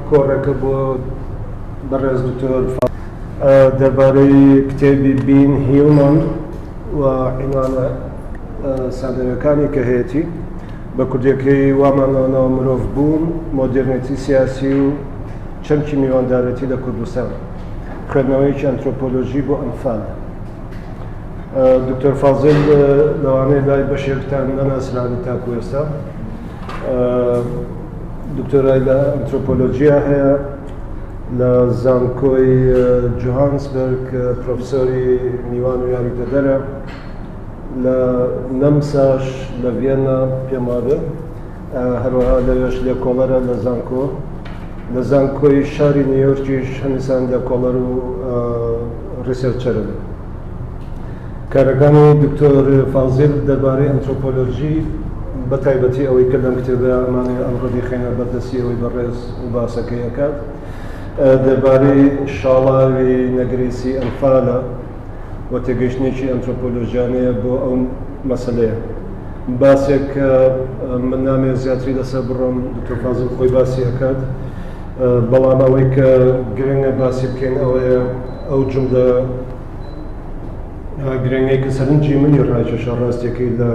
کۆڕەکە بۆ بەڕێز دکتۆر دەربارەی کتێبی بین هیومن و عینوانە سادەرەکانی کە هەیەی بە کوردەکەی وامانەوە مرۆڤ بوون مۆدررنێتی سیاسی و چەمکی میواندارێتی لە کوردستان خوێندنەوەیەکی ئەنترۆپۆلۆژی بۆ ئەنفال دکتۆر فازل لەوانەیە لای بەشێکتان نەناسراوی تاکو ئێستا دکتۆرای لە ئەنترۆپۆلۆژیە هەیە لە زانکۆی جوهانسبرگ پرۆفسۆری میوان و یاریدەدەرە لە نەمساش لە ڤێننا پێماێ هەروەها لەوێش لێکۆڵەرە لە زانکۆ لە زانکۆی شاری نیویۆرکیش هەمیسان لێکۆڵەر و ڕیسێرچەرن. کارەکانی دکتۆر فازیل دەربارەی ئەنترۆپۆلۆژی بە تایبەتی ئەوەی کە لەم کتێبە ئەمانەی ئەمڕۆ دیخینە بەردەستی ئەوەی بەڕێز و باسەکەی ئەکات دەربارەی شاڵاوی نەگریسی ئەنفالە و تێگەیشتنێکی ئەنترۆپۆلۆژیانەیە بۆ ئەو مەسەلەیە. باسێک کە من نامەوێت زیاتری لەسەر بڕۆم، دکتۆر فازڵ خۆی باسی ئەکات، بەڵام ئەوەی کە گرنگە باسی بکەین ئەوەیە ئەو جوملە گرنگەی کە سەرنجی منی ڕاکێشا ڕاستیەکەی لە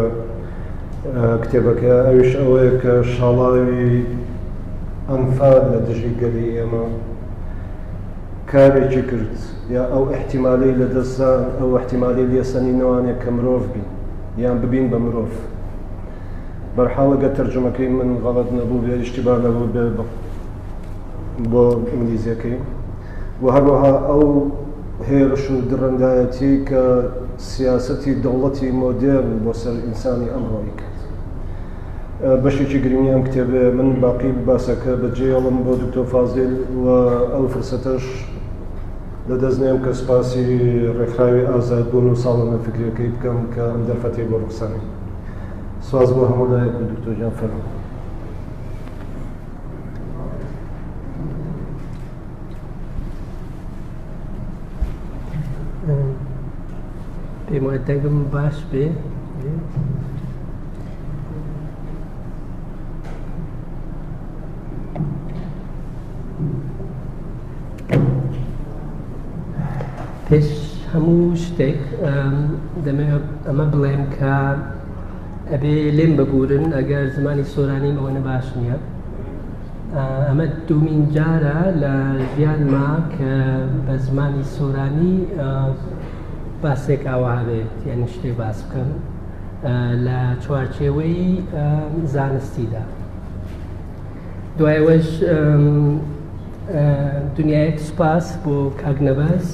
کتێبەکە ئەویش ئەوەیە کە شاڵاوی ئەنفال لە دژی گەلی ئێمە کارێکی کرد یا ئەو ئیحتیمالەی لەدەست دا، ئەو ئیحتیمالی لێسەنینەوانەیە کە مرۆڤ بین یان ببین بە مرۆڤ. بەرحاڵ ئەگەر تەرجومەکەی من غەڵەت نەبووبێ، ئیشتیبا نەبووبێ بۆ ئینگلیزیەکەی و هەروەها ئەو هێرش و دڕەندایەتیەی کە سیاسەتی دەوڵەتی مۆدێرن بۆ سەر ئینسانی ئەمڕۆ ئەیکات. بەشێکی گرنگی ئەم کتێبەیە من باقی باسەکە بە جێڵم بۆ دکتۆر فازیل و ئەو فرسەتەش لەدەست نێم کە سپاسی ڕێکخراوی ئازاد بوون و ساڵۆنە فکرەکەی بکەم کە ئەم دەرفەتی بۆ ڕخسانی سواز بۆ هەموو لایەک و دکتۆر جان فەرمو پێم وایە دەنگم باش بێ پێش هەموو شتێک دەمێ ئەمە بڵێم کە ئەبێ لێم ببورن ئەگەر زمانی سۆرانی ئەوەنە باش نییە ئەمە دومین جارە لە ژیانما کە بە زمانی سۆرانی باسێک ئاوا بێت یان شتێ باس بکەم لە چوارچێوەی زانستیدا دوایەوەش دنیایەک سوپاس بۆ کاک نەبەز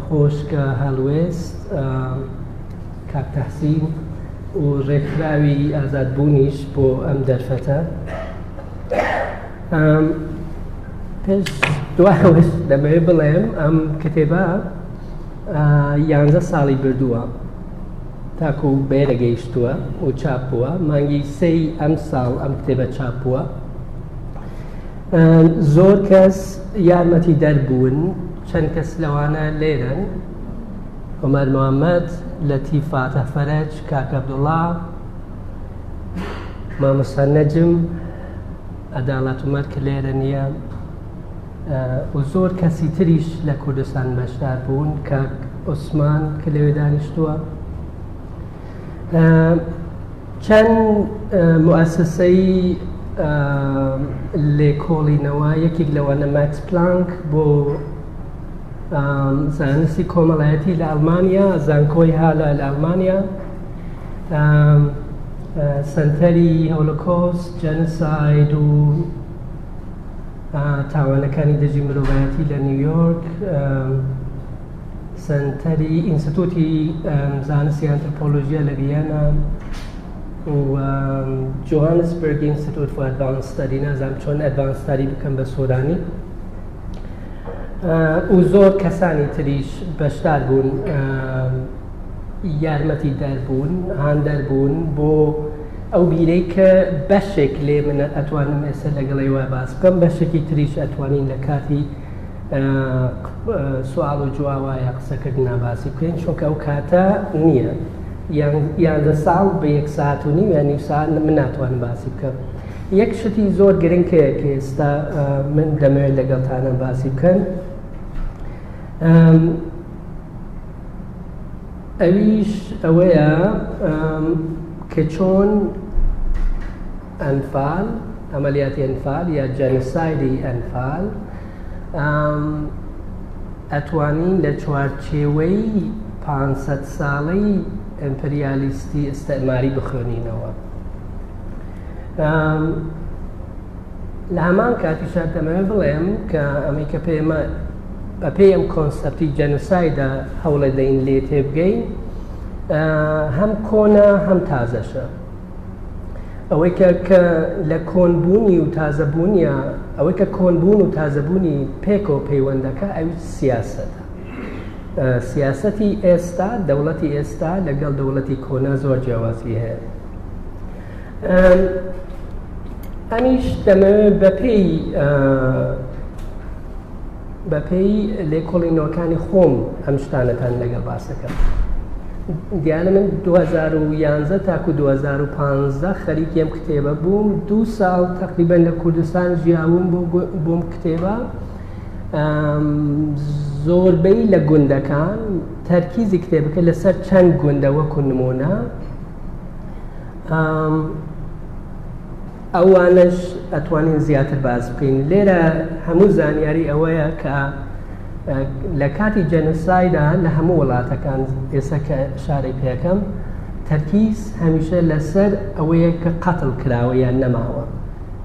خۆشکە هەڵوێست کاک تەحسین و ڕێکخراوی ئازادبوونیش بۆ ئەم دەرفەتە پێش دوایەوەش دەمەوێت بڵێم ئەم کتێبە یانزە ساڵی بردووە تاکو بەێرە گەیشتووە و چاپ بووە مانگی سەی ئەم ساڵ ئەم کتێبە چاپ بووە زۆر کەس یارمەتی دەربوون چەند کەس لەوانە لێرن عمر محمد لطیف فاتح فرج کاک عبدالله مامۆستا نەجم عدالت عمر کە لێرە نییە و زۆر کەسی تریش لە کوردستان بەشدار بوون کاک عوسمان کە لەوێ دانیشتووە چەند موسسەی لێکۆڵینەوە یەکێک لەوانە ماکس پلانک بۆ زانستی کۆمەڵایەتی لە ئەلمانیا زانکۆی هالا لە ئەلمانیا سنتەری هۆلۆکۆست جەنساید و تاوانەکانی دژی مرۆڤایەتی لە نیویۆرک سنتەری ئینستتوتی زانستی ئەنترپۆلۆژیە لە بیانە جوهانسبرگ ئینستتوت فۆ ئەدڤانستەدی نازانم چۆن ئەدڤانستاری بکەم بە سۆرانی و زۆر کەسانی تریش بەشدار بوون یارمەتی دەربوون هاندەر بوون بۆ ئەو بیرەی کە بەشێک لێ من ئەتوانم ئێستا لەگەڵ ئێوە باس بکەم بەشێکی تریش ئەتوانین لە کاتی سوال و جوواوە یا قسەکردنا باسی بکەین چونکە ئەو کاتە نییە یانزە ساڵ بە یەک ساعت و نیم یان نیو ساعت من ناتوانم باسی بکەم یەک شتی زۆر گرنگەیە کە ئێستا من دەمەوێت لەگەڵتانە باسی بکەن ئەویش ئەوەیە کە چۆن ئەنفال، عملیاتی ئەنفال یا جەنسایدی ئەنفال ئەتوانی لە چوارچێوەی پ ساڵەی ئەمپریالیستی ئستعماری بخوێنینەوە. لە هەمان کاتیشا دەمەوێت بڵێم کە ئەمەی کە پێمە بە پێی ئەم کۆنسپتی جەنوسایدا هەوڵێ دەین لێ تێبگەین هەم کۆنا هەم تازەشە ئەوەی کە کە لە کۆنبوونی و تازەبوونیە ئەوەی کە کۆنبوون و تازەبوونی پێکەوە پەیوەندەکە ئەوی سیاستە سیاستی ئێستا دەوڵەتی ئێستا لەگەڵ دەوڵەتی کۆنا زۆر جیاوازی هەیە ئەمیش دەمەوێت بەپێی بەپێی لێکۆڵینەوەکانی خۆم ئەم شتانەتان لەگەڵ باسەکەم دیانە من 2011 تاکو 2015 خەریکێم کتێبە بووم دوو ساڵ تقریبن لە کوردستان ژیاوم بۆم کتێبە زۆربەی لە گوندەکان تەرکیزی کتێبەکە لەسەر چەند گوندە وەکو نمونە ئەوانش ئەتوانین زیاتر باز بکەین لێرە هەموو زانیاری ئەوەیە کە لە کاتی جەنسایدا لە هەموو وڵاتەکان ئێستا کە شارێک پێەکەم تەرکیز هەمیشە لەسەر ئەوەیە کە قەتڵ کراوە یان نەماوە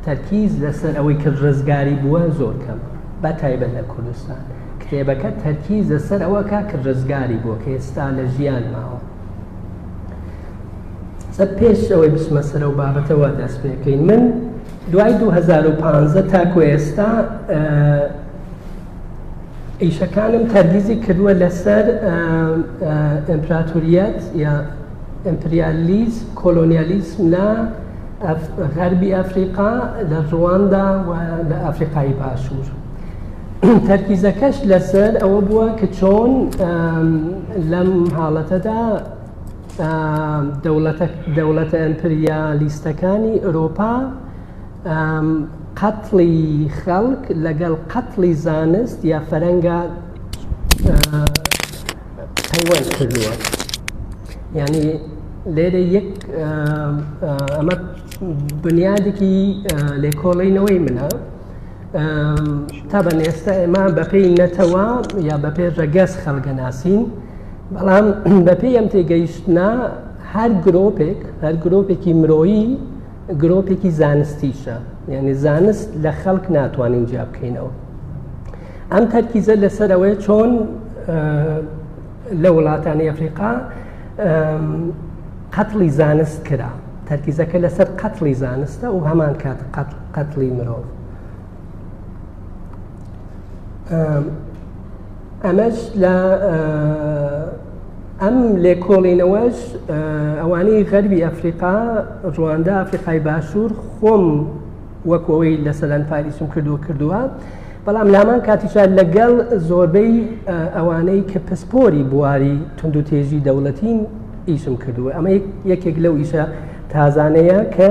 تەرکیز لەسەر ئەوەی کە ڕزگاری بووە زۆر کەم بە تایبەت لە کوردستان کتێبەکە تەرکیز لەسەر ئەوەکە کە ڕزگاری بووە کە ئێستا لە ژیان ماوە سە پێش ئەوەی بچمە سەرەوە بابەتەوە دەست پێکەین من دوای 2015 تاکو ئێستا ئیشەکانم تەرگیزی کردووە لەسەر ئەمپراتوریەت یا ئەمپریالیز کۆلۆنیالیسم لە غەربی ئەفریقا لە ڕواندا و لە ئەفریقای باشوور تەرکیزەکەش لەسەر ئەوە بووە کە چۆن لەم حاڵەتەدا دەوڵەتە ئەمپریالیستەکانی ئۆرۆپا قەتڵی خەڵک لەگەڵ قەتڵی زانست یا فەرەنگا پەیوەند کردووە ینی لێرە یەک ئەمە بنیادێکی لێکۆڵینەوەی منە تابان ئێستا ئێمە بەپێی نەتەوە یا بەپێ ڕەگەز خەڵگە ناسین بەڵام بەپێ ئەم تێگەیشتە هەر گرۆپێک هەر گرۆپێکی مرۆیی گرۆپێکی زانستیشە یعنی زانست لە خەڵک ناتوانین جیا بکەینەوە ئەم تەرکیزە لەسەرەوەی چۆن لە وڵاتانی ئەفریقا قەتڵی زانست کرا تەرکیزەکە لەسەر قەتڵی زانستە و هەمان کات قەتڵ قەتڵی مرۆڤ ئەمەش لە ئەم لێکۆڵینەوەش ئەوانەی غەربی ئەفریقا ڕواندا ئەفریقای باشوور خۆم وەکەوەی لە سەدان پاریسم کردووە کردووە بەڵام لامان کاتیشا لەگەڵ زۆربەی ئەوانەی کە پسپۆری بواری تونند و تێژی دەوڵەتین ئیشم کردووە ئەمە یەکێک لەو ئیشە تازانەیە کە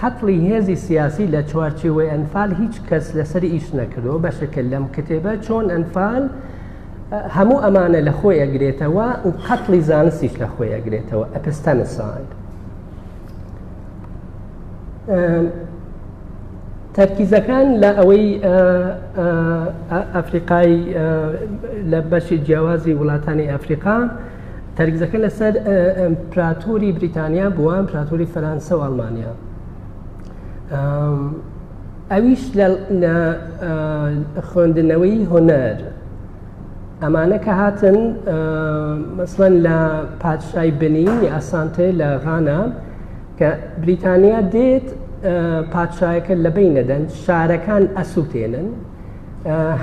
قەتڵی هێزی سیاسی لە چوارچێوەی ئەنفال هیچ کەس لەسەری ئیش نەکردەوە بە شکل لەم کتێبە چۆن ئەنفال هەموو ئەمانە لە خۆی ئەگرێتەوە و قەتڵی زانستیش لە خۆی ئەگرێتەوە ئەپستەنسان تەرکیزەکان لە ئەوەی ئەفریقای لە بەشی جیاوازی وڵاتانی ئەفریقا تەرکزەکە لەسەر ئەمپراتوری بریتانیا بووە ئەمپراتوری فەرانسە و ئەڵمانیا ئەویش لە خوێندنەوەی هۆنەر ئەمانە کە هاتن مەسڵەن لە پادشای بنی ئاسانتێ لە غانا کە بریتانیا دێت پادشایەکە لە بین نەدەن شارەکان ئەسووتێنن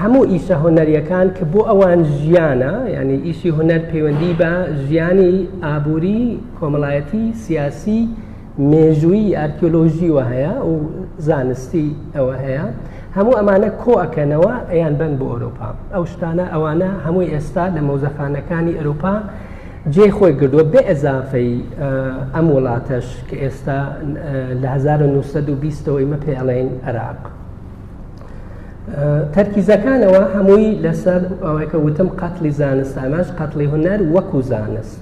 هەموو ئیسە هونەریەکان کە بۆ ئەوان ژیانە یعنی ئیسی هونەر پەیوەندی بە ژیانی ئابووری کۆمەڵایەتی سیاسی مێژووی ئارکیۆلۆژیوە هەیە و زانستی ئەوە هەیە هەموو ئەمانە کۆ ئەکەنەوە ئەیان بن بۆ ئۆرۆپا ئەو شتانە ئەوانە هەمووی ئێستا لە مۆزەخانەکانی ئەروپا جێ خۆی گردووە بێ ئەزافەی ئەم وڵاتەش کە ئێستا لە 1920ەوەی مە پێڵێن عراق. تەرکیزەکانەوە هەمووی لەسەر ئەوەیکە وتم قەتلی زانست ئاماش قەتلی هونەر وەکو زانست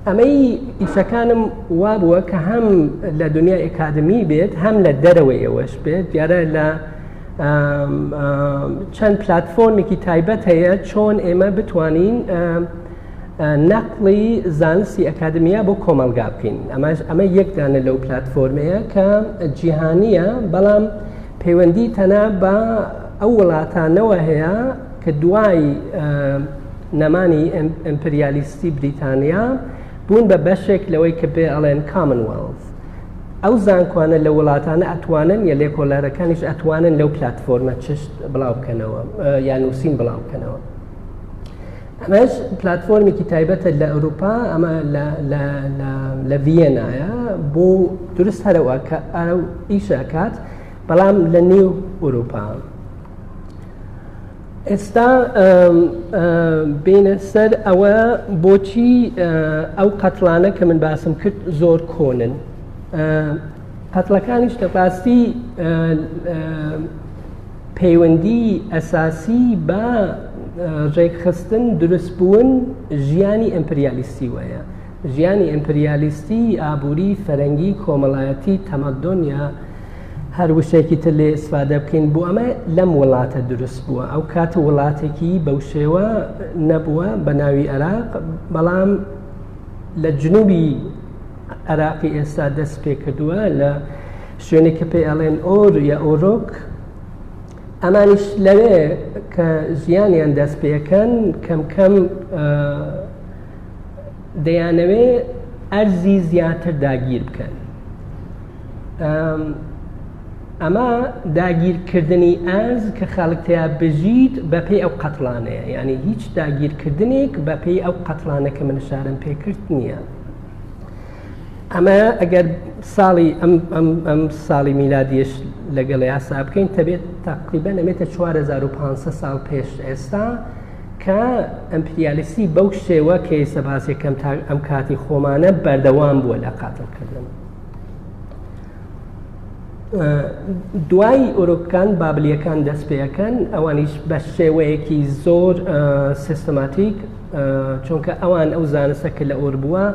ئەمەی ئیسەکانم وا بووە کە هەم لە دنیا ئکادمی بێت هەم لە دەرەوەیەوەش بێت دیارە لە چەند پلتفۆرمێکی تایبەت هەیە چۆن ئێمە بتوانین نەقڵی زانستی ئەکادمیا بۆ کۆمەلگا بکەین ئەماش ئەمە یەکدانە لەو پلتفۆرمەیە کە جیهانیە بەڵام پەیوەندی تەنا بە ئەو وڵاتانەوە هەیە کە دوای نەمانی ئەمپریالیستی بریتانیا بوون بە بەشێک لەوەی کە پێ ئەڵێن کامنوڵف ئەو زانکۆانە لە وڵاتانە ئەتوانن یە لێکۆلارەکانیش ئەتوانن لەو پلتفۆرمە چشت بڵاو بکەنەوە یا نووسین بڵاو بکەنەوە ئەمەش پلتفۆرمێکی تایبەتە لە ئەوروپا ئەمە لە ڤەنایە بۆ درست هەرەوە کە ئەرە ئیشەکات بەڵام لە نێو ئەوروپا ئێستا بینە سەر ئەوە بۆچی ئەو قەتلانە کە من باسم کرد زۆر کۆنن قەتلەکانیش لە باستی پەیوەندیی ئەساسی بە ڕێکخستن، دروستبوون ژیانی ئیمپریالیستی وەیە. ژیانی ئیمپریالیستی، ئابووری، فەرەنگی، کۆمەڵایەتی، تەمەدۆن یا هەر وشەیەکی تر لێ ئیسفادە بکەین بۆ ئەمە لەم وڵاتە دروست بووە. ئەو کات وڵاتێکی بەو شێوە نەبووە بە ناوی عێراق، بەڵام لە جنووبی عێراقی ئێستا دەست پێ کردووە لە شوێنێک کە پێی ئەڵێن ئۆر یا ئۆرۆک ئەمانیش لەوێ کە ژیانیان دەست پێەکەن کەم کەم دەیانەوێ ئەرزی زیاتر داگیر بکەن ئەمە داگیرکردنی ئەرز کە خەڵکتەیە بژیت بەپی ئەو قەتلانەیە ینی هیچ داگیرکردنێک بەپی ئەو قەتلانە کە من شارم پێکرد نییە ئەمە ئەگەر ساڵی ئەم ساڵی میلادیش لەگەڵ یاسا بکەین تەبێت تاقیبە نەبێتە 4500 ساڵ پێش ئێستا کە ئەمپریالیسی بەو شێوە کەیسە باسێکەم تا ئەم کاتی خۆمانە بەردەوام بووە لە قاتڵکردن. دوای ئۆرۆکان بابلیەکان دەست پێەکەن ئەوانیش بە شێوەیەکی زۆر سیستماتیک چونکە ئەوان ئەو زانستە کە لە ئۆر بووە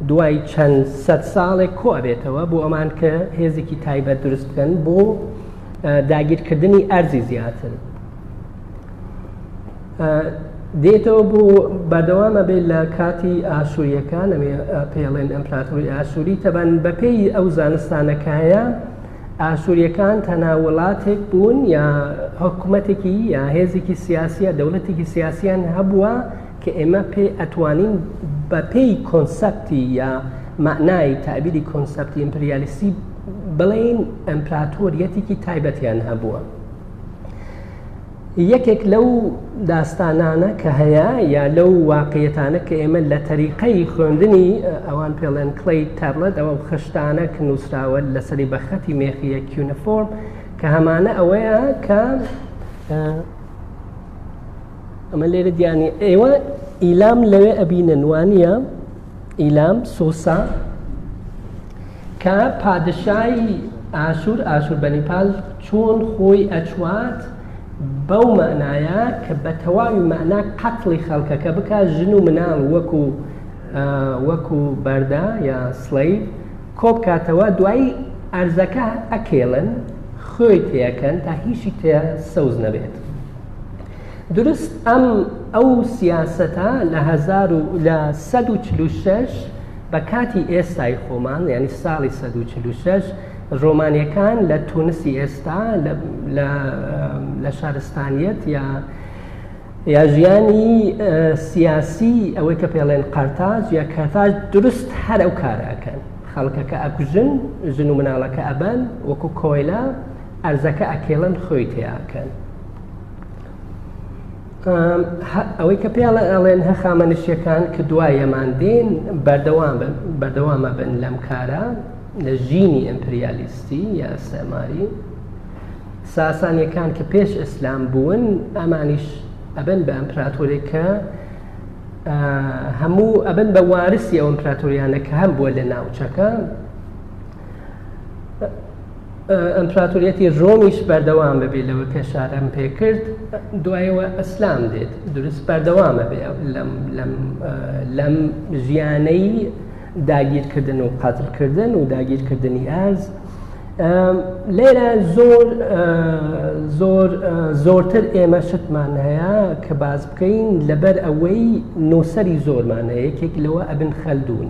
دوای چەند سەد ساڵێک کۆ ئەبێتەوە بۆ ئەمان کە هێزێکی تایبەت دروست بکەن بۆ داگیرکردنی ئەرزی زیاتر دێتەوە بۆ بەردەوامە بێت لە کاتی ئاسووریەکان ئەوێ پێڵێن ئەمپراتوری ئاسووری تەبەن بەپێی ئەو زانستانەکایە ئاسووریەکان تەنا وڵاتێک بوون یا حکوومەتێکی یا هێزێکی سیاسیە دەوڵەتێکی سیاسیان هەبووە کە ئێمە پێی ئەتوانین بە پێی کۆنسەپتی یا مەعنای تابیری کۆنسەپتی ئیمپریالیستی بڵێین ئەمپراتۆریەتێکی تایبەتیان هەبووە یەکێک لەو داستانانە کە هەیە یا لەو واقعەتانە کە ئێمە لە تەریقەی خوێندنی ئەوان پێڵێن کڵی تەرڵەت ئەوە خشتانە کە نووسراوە لەسەری بەخەتی مێخیە کیونەفۆرم کە هەمانە ئەوەیە کە ئەمە لێرە دیانی ئێوە ئیلام لەوێ ئەبینە نوانە ئیلام سۆسا کە پادشایی ئاشور ئاشور بەنیپال چۆن خۆی ئەچوات بەو مەعنایە کە بە تەواوی مەعنا قەتڵی خەڵکەکە بک ژن و مناڵ وەکو وەکو بەردا یا سڵی کۆبکاتەوە دوایی ئەرزەکە ئەکێڵن خۆی تێەکەن تا هیچی تێ سەوز نەبێت دروست ئەم ئەو سیاسەتە لە لە 1940 بە کاتی ئێستای خۆمان یعنی ساڵی 1940 ڕۆمانەکان لە تونسی ئێستا لە شارستانیت یا یا ژیانی سیاسی ئەوەی کە پێڵێن قەرتاج یا کەتاج دروست هەر ئەو کارەکەن خەڵکەکە ئەکوژن ژن و مناڵەکە ئەبەن وەکو کۆیلە ئەرزەکە ئەکێڵن خۆی تێیاکەن ئەوەی کە پێڵە ئەڵێن هە خامەنشیەکان کە دوایەمان دێن بەردەوام بن بەردەوامە بن لەم کارە لە ژینی ئەمپریالیستی یا سەماری ساسانیەکان کە پێش ئیسلام بوون ئەمانیش ئەبن بە ئەمپراتۆرێکە هەموو ئەبن بە وارسی ئەو ئەمپراتۆریانە کە هەم بووە لە ناوچەکە ئەمپراتۆریەتی ڕۆمیش بەردەوام بەبێ لەوە کە شارەم پێکرد دوایەوە ئەسلام دێت دروست بەردەوامە بێ لەم ژیانەی داگیرکردن و قاتلکردن و داگیرکردنی ئاز لێرە زۆر زۆر زۆرتر ئێمە شتمان هەیە کە باز بکەین لەبەر ئەوەی نووسری زۆرمان هەیە یەکێک لەوە ئەبن خەلدون.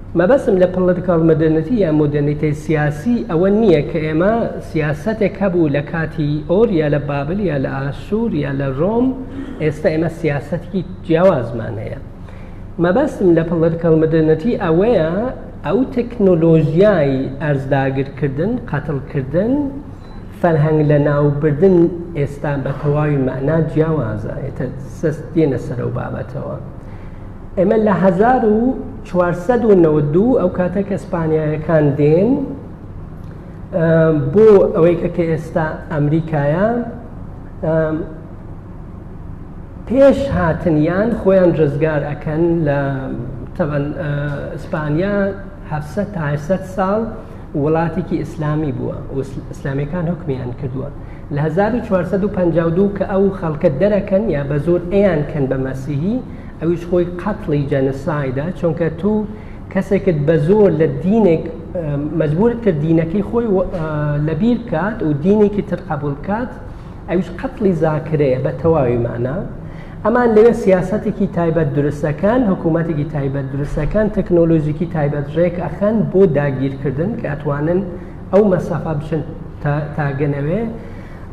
مەبەستم لە پڵتکاڵ مەدەرنەتی یا مۆدەرنیتەی سیاسی ئەوە نییە کە ئێمە سیاسەتێک هەبوو لە کاتی ئۆر یا لە بابل یا لە ئاسوور یا لە ڕۆم ئێستا ئێمە سیاسەتێکی جیاوازمان هەیە مەبەستم لە پڵتکاڵ مەدەرنەتی ئەوەیە ئەو تەکنۆلۆژیای ئەرزداگرکردن قەتڵکردن فەرهەنگ لە ناوبردن ئێستا بە تەواوی مەنا جیاوازە ئێتە سەست دێنە سەرەوە بابەتەوە ئێمە لە هزار و چوار سەد و نەوەد و دوو ئەو کاتە کە سپانیایەکان دێن بۆ ئەوەی کە کە ئێستا ئەمریکایە پێش هاتنیان خۆیان ڕزگار ئەەکەن لە تەبەن ئیسپانیا هەفسە تاسە ساڵ وڵاتێکی ئیسلامی بووە ئیسلامیەکان حکمیان کردووە لە 1452 کە ئەو خەڵکە دەرەکەن یا بە زۆر ئەیان کەن بە مەسیحی ئەویش خۆی قەتڵی جەنسایدا چونکە تو کەسێکت بە زۆر لە دینێک مەجبورت کرد دینەکەی خۆی لەبیر بکات و دینێکی تر قبول بکات ئەوش قەتڵی زاکرەیە بە تەواوی مانا ئەمان لەوێ سیاسەتێکی تایبەت درستەکەن حکوومەتێکی تایبەت درستەکەن تەکنۆلۆژیکی تایبەت ڕێک ئەخەن بۆ داگیرکردن کە ئەتوانن ئەو مەسافە بچن تاگەنەوێ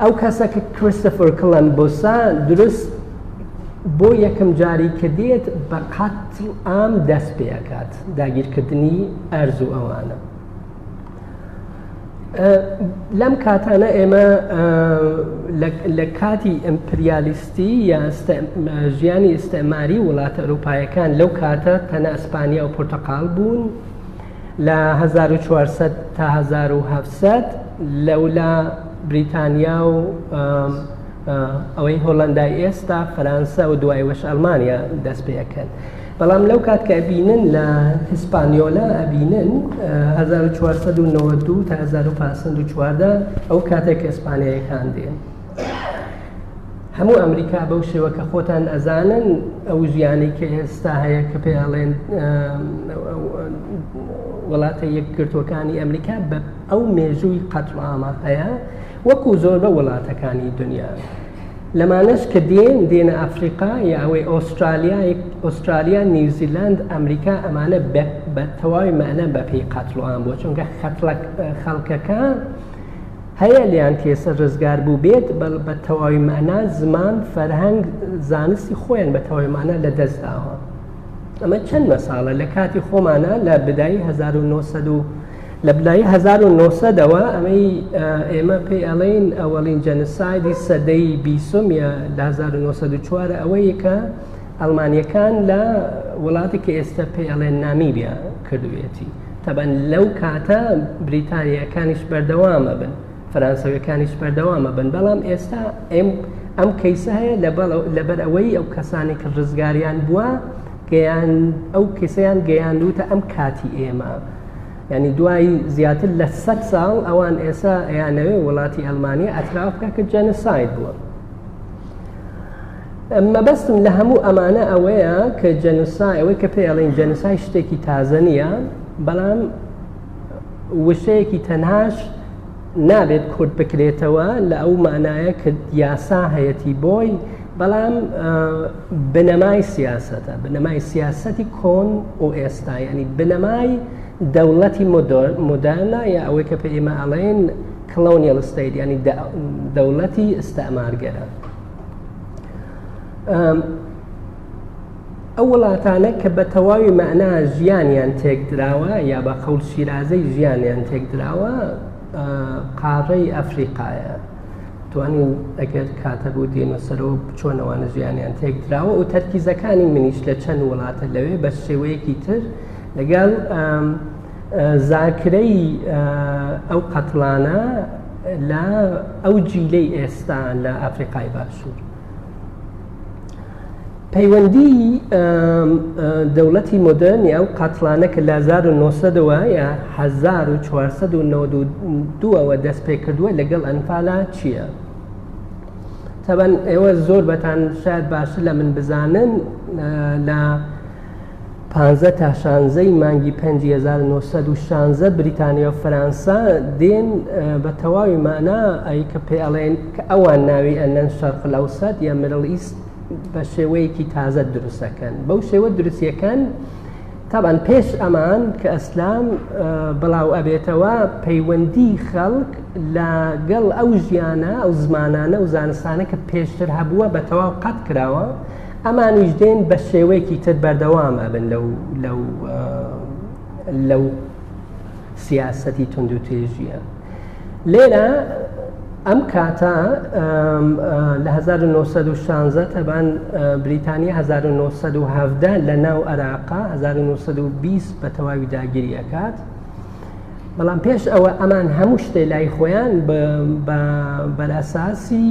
ئەو کەسە کە کریستفر کڵەن بۆسا درست بۆ یەکەم جاری کە دێت بە قەت ئام دەست پێکات داگیرکردنی ئەرز و ئەوانە لەم کاتانە ئێمە لە کاتی ئەمپریالیستی یا ژیانی ئستعماری وڵاتە ئەوروپایەکان لەو کاتە تەنە ئەسپانیا و پرتەقال بوون لە 1940 تا 1970 لەولا بریتانیا و ئەوەی هۆلندای ئێستا فەرەنسا و دوای وەش ئەلمانیا دەست پێەکەن. بەڵام لەو کات کە ئەبینن لە هیسپانیۆلا ئەبینن هەزار و چوار سەد و نەوەد و دوو تا هەزار و پێنج سەد و چواردە ئەو کاتێک کە ئیسپانییەکان دێن هەموو ئەمریکا بەو شێوە کە خۆتان ئەزانن ئەو ژیانی کە ئێستا هەیە کە پێ ئەڵێن وڵاتە یەکگرتوەکانی ئەمریکا بە ئەو مێژووی قەتڵامە هەیە وەکو زۆربە وڵاتەکانی دنیا لەمانەش کە دێن دێنە ئەفریقا یە ئەوەی ئۆسترالیا ئۆسترالیا نیوزیلاند ئەمریکا ئەمانە بە تەواوی مەەنە بەپی قاتلوان بۆ چونکە خەڵکەکە هەیە لیان تێسە ڕزگار بوو بێت بەڵ بە تەواوی مەنا زمان فەرهەنگ زانستی خۆیان بە تەواوی مانە لە دەستداوە ئەمە چەند مەساڵە لە کاتی خۆمانە لە بدایی 1970 لە بنایی 1970ەوە ئەمەی ئێمە پێی ئەڵین ئەوەڵین جەنسایدی سەدەی بیسم یا 1940 ئەوەیەکە ئەلمانیەکان لە وڵاتی کە ئێستا پێ ئەڵێن نامی بیا کردوێتی تەبەن لەو کاتە بریتانیەکانیش بەردەوامە بن فەرانسەوەکانیش بەردەوامە بن بەڵام ئێستا ئێم ئەم کەیسە هەیە لەبەر ئەوەی ئەو کەسانی کە ڕزگاریان بووە گەیان ئەو کەسیان گەیاندوتە ئەم کاتی ئێمە. یعنی دوایی زیاتر لە سە ساڵ ئەوان ئێسا ئەیانەوێ وڵاتی ئەلمانیا ئەتراف بکە کە جەنساید بووە مەبەستم لە هەموو ئەمانە ئەوەیە کە جەنسای ئەوەی کە پێڵین جەنسای شتێکی تازە نییە بەڵام وشەیەکی تەناش نابێت کورت بکرێتەوە لە ئەو مانایە کە یاسا هەیەتی بۆی بەڵام بنەمای سیاستە بنەمای سیاستی کۆن و ئێستا ینی بنەمای دەوڵەتی مدانە یا ئەوەی کە پێ ئێمە ئەڵێن کلۆنیل ستیت ینی دەوڵەتی ئستەمارگەرە ئەو وڵاتانە کە بە تەواوی مەعنا ژیانیان تێکدراوە یا بە قەول شیرازەی ژیانیان تێکدراوە قاڕەی ئەفریقاە توانین ئەگەر کاتە بۆ دێنە سەرەوە بچۆنەوانە ژیانیان تێکدراوە و تەرکیزەکانی منیش لە چەند وڵاتە لەوێ بە شێوەیەکی تر لەگەڵ زاکرەی ئەو قەتڵانە لە ئەو جیلەی ئێستا لە ئەفریقای باشوور پەیوەندی دەوڵەتی مۆدرن یا و قاتلانە کە لە 1992ەوە یا 1992ەوە دەست پێ کردووە لەگەڵ ئەنفالا چییە؟ تەبەن ئێوە زۆر بەتان شاید باشتر لە من بزانن لە پانزە تا شانزە ی مانگی پێنجی هەزار و نۆ سەد و شانزە بریتانیا و فەرانسا دێن بە تەواوی مانا ئەی کە پێ ئەڵێن کە ئەوان ناوی ئەنەن شەرق لەوسەد یا مرل ئیست بە شێوەیەکی تازە دروستەکەن بەو شێوە دروستیەکەن تابان پێش ئەمان کە ئەسلام بڵاو ئەبێتەوە پەیوەندی خەڵک لە گەڵ ئەو ژیانە ئەو زمانانە و زانستانە کە پێشتر هەبووە بە تەواو قەت کراوە ئەمانیش دێن بە شێوەیەکی تر بەردەوام ئەبن لەو لەو لەو سیاسەتی تونند و تێژیە لێرە ئەم کاتە لە 1960 تەبان بریتانی 1970 لە ناو عراقا 1920 بە تەواوی داگیریەکات بەڵام پێش ئەوە ئەمان هەموو شتێ لای خۆیان بەلاساسی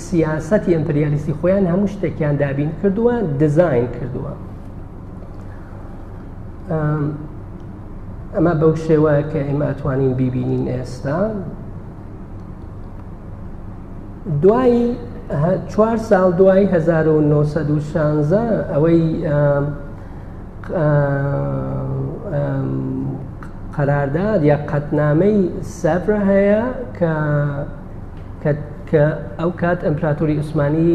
سیاستی ئەمپریالیستی خۆیان هەموو شتێکیان دابین کردووە دەزین کردووە ئەمە بەو شێوە کە ئێمە ئەتوانین بیبینین ئێستا دوایی چوار ساڵ دوای 1960 ئەوەی قەرارداد یا قەتنامەی سەفرە هەیە کە کە ئەو کات ئەمپراتوری عوسمانی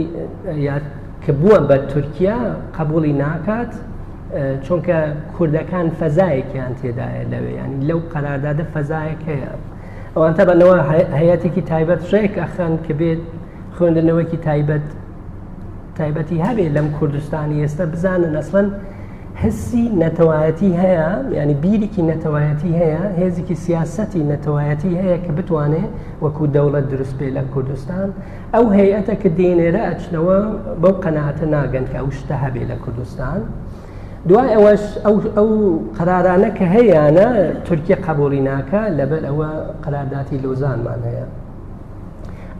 یاد کە بووە بە تورکیا قبولی ناکات چونکە کوردەکان فەزایەکیان تێدایە لەوێ ینی لەو قەراردادە فەزایەک هەیە ئەوانتە بەنەوە هەیەتێکی تایبەت ڕێک ئەخەن کە بێت خوێندنەوەکی تایبەت تایبەتی هەبێ لەم کوردستانی ئێستا بزانن ئەسڵەن هەسی نەتەوایەتی هەیە ینی بیرێکی نەتەوایەتی هەیە هێزێکی سیاستی نەتەوایەتی هەیە کە بتوانێ وەکو دەوڵەت دروست پێ لە کوردستان ئەو هەیەتە کە دێنێرە ئەچنەوە بەو قەنەعاتە ناگەن کە ئەو شتە هەبێ لە کوردستان. دوای ئەوەش ئەو قرارانە کە هەیەە تورکیا قبولی ناکە لەبەر ئەوە قرارداتی لۆزانمان هەیە.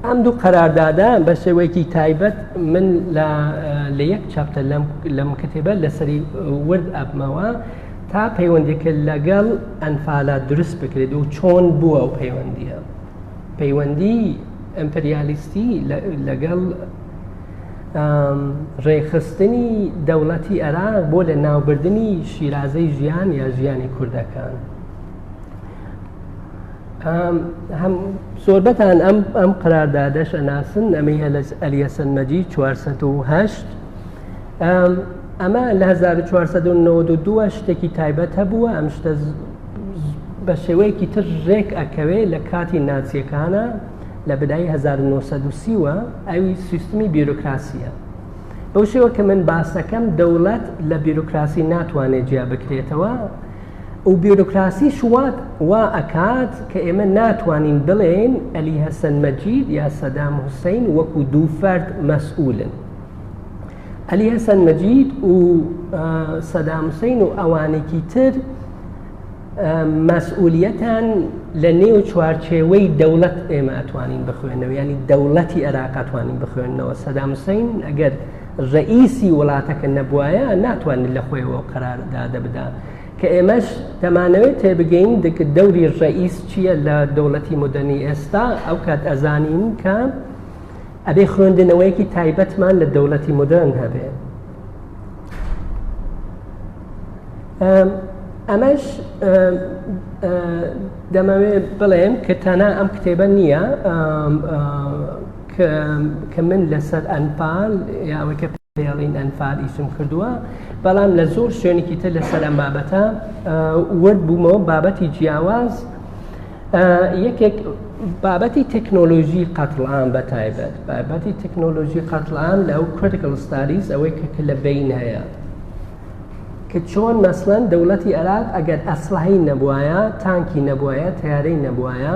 ئەم دوو قەراردادە بە شێوەیەکی تایبەت من لە یەک چاپتە لەم کتێبە لەسەری ورد ئەبمەوە تا پەیوەندێکە لەگەڵ ئەنفالا دروست بکرێت و چۆن بووە و پەیوەندیە پەیوەندی ئەمپریالیستی لەگەڵ ڕێخستنی دەوڵەتی عێراق بۆ لە ناوبردننی شیرازەی ژیان یا ژیانی کوردەکان زۆربەتان ئەم ئەم قراردادەش ئەناسن ئەمەی هەلس ئەلیەسەن مەجی 1970 ئەمە لە 1992 شتێکی تایبەت هەبووە ئەم شتە بە شێوەیەکی تر ڕێک ئەکەوێ لە کاتی ناچیەکانە لە بدای 1930وە ئەوی سیستمی بیرۆکراسیە بەو شێوە کە من باسەکەم دەوڵەت لە بیرۆکراسی ناتوانێت جیا بکرێتەوە و بیرۆکراسی شوات وا ئەکات کە ئێمە ناتوانین بڵێین ئەلی هەسەن مەجید یا سەدام حوسین وەکو دوو فەرد مەسئولن ئەلی هەسەن مەجید و سەدام حوسین و ئەوانێکی تر مەسئولیەتان لە نێو چوارچێوەی دەوڵەت ئێمە ئەتوانین بخوێنەوە ینی دەوڵەتی عێراقاتوانین بخوێنەوە سەدامسین ئەگەر ڕەئیسی وڵاتەکە نەبوایە ناتوانێت لە خۆیەوە قەرار دادە بدا کە ئێمەش دەمانەوێت تێبگەین دەکە دەوری ڕەئیس چییە لە دەوڵەتی مدەنی ئێستا ئەو کات ئەزانین کە ئەبێ خوێندنەوەیەکی تایبەتمان لە دەوڵەتی مدەن هەبێ ئەمەش دەمەوێت بڵێم کە تانا ئەم کتێبە نییە کە من لەسەر ئەنفال یاوەی کە پێڵین ئەنفال ئیسم کردووە بەڵام لە زۆر شوێنێکی تر لەسەر ئەم بابەتە ورد بوومەوە بابەتی جیاواز یەکێک بابەتی تەکنۆلۆژی قەتڵام بە تایبەت بابەتی تەکنۆلۆژی قەتڵام لە ئەو کریکل ستاریز ئەوەی کە لە بین هەیە کە چۆن مەسلەن دەوڵەتی عێراق ئەگەر ئەسلحی نەبوایە تانکی نەبوایە تیارەی نەبوایە